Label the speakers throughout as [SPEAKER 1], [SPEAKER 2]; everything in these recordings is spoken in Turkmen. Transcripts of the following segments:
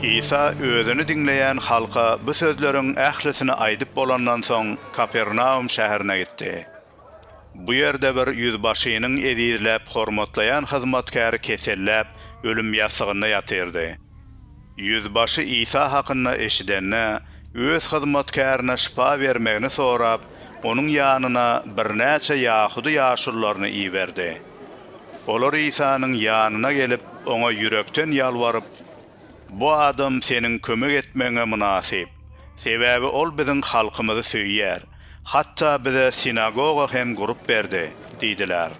[SPEAKER 1] Isa özüni diňleýän halka bu sözleriň ählisini aýdyp bolandan soň, Kapernaum şäherine gitdi. Bu ýerde bir ýüzbaşynyň ezizläp hormatlaýan hyzmatkäri keselläp, ölüm ýassygynda ýatyrdy. Ýüzbaşy Isa hakynda eşidende, öz hyzmatkärine şypa bermegini sorap, onuň ýanyna birnäçe ýahudy ýaşulularyny iberdi. Olar Isanyň ýanyna gelip, oňa ýürekden ýalbaryp, Bu adam seniň kömek etmegiňe mynasyp. Sebäbi ol biziň halkymyzy söýýär. Hatda bize sinagoga hem gurup berdi diýdiler.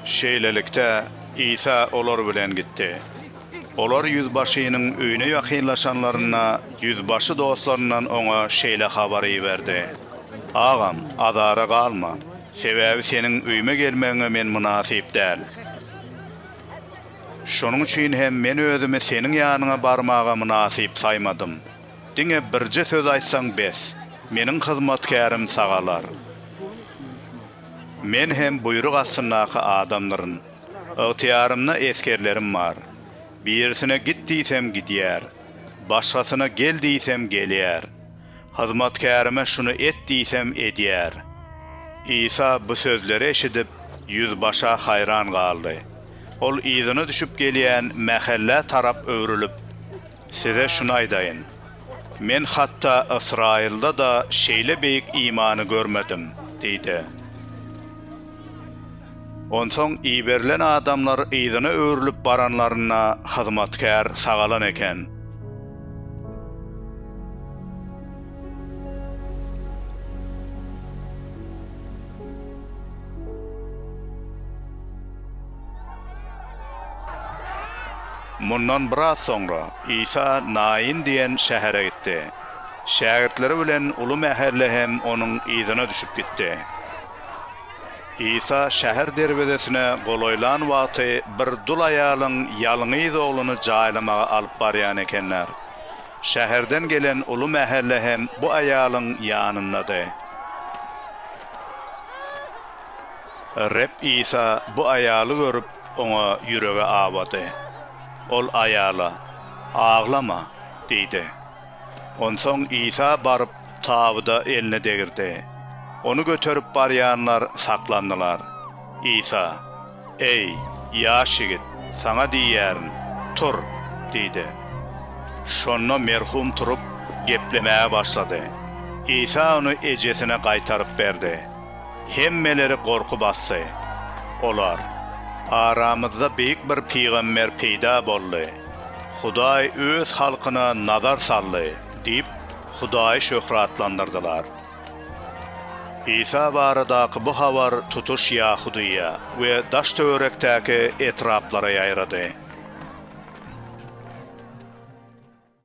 [SPEAKER 1] Şeýlelikde, Isa olar bilen gitdi. Olar ýüzbaşynyň öýüne ýakynlaşanlarynda, ýüzbaşy dostlaryndan oňa şeýle habary iberdi, Agam, azara galma, sebäbi seniň öýüme gelmegiňe men mynasyp däl. Şonuň üçin hem men özümi seniň ýanyňa barmaga mynasyp saýmadym. Diňe birje söz aýtsaň bes, meniň hyzmatkärim sagalar. Men hem buýruk astyndaky adamdyryn. Ygtyýarymda esgerlerim bar. Birisine git diýsem gidýär. Başgasyna gel diýsem gelýär. Hyzmatkärime şuny et diýsem edýär. Isa bu sözleri eşidip, ýüzbaşa haýran galdy. Ol yzyna düşüp gelýän mähellä tarap öwrülip. Size şuny aýdaýyn, Men hatda Ysraýylda-da şeýle beýik imany görmedim diýdi. Onsoň iberilen adamlar yzyna öwrülip baranlarynda, hyzmatkär sagalan eken. Mundan biraz soňra Isa Naýyn diýen şähere gitdi. Şägirtleri bilen uly mähelle hem onuň yzyna düşüp gitdi. Isa şäher derwezesine golaýlan wagty bir dul aýalyň ýalňyz ogluny jaýlamaga alyp barýan ekenler. Şäherden gelen uly mähelle hem bu aýalyň ýanyndady. Reb Isa bu aýaly görüp, oňa ýüregi awady. Ol aýala, Aglama! diýdi. Onsoň Isa baryp, tabyda elini degirdi. Ony göterip barýanlar saklandylar. Isa, Eý, ýaş ýigit, saňa diýýärin, tur! diýdi. Şonda merhum turup, geplemäge başlady. Isa ony ejesine gaýtaryp berdi. Hemmeleri gorky basdy. Olar, Aramyzda beýik bir pygamber peýda boldy. Hudaý Öz halkyna nazar saldy diýip, Hudaýy şöhratlandyrdylar. Isa baradaky bu habar tutuş Ýahudyýa we daş-töwerekdäki etraplara ýaýrady.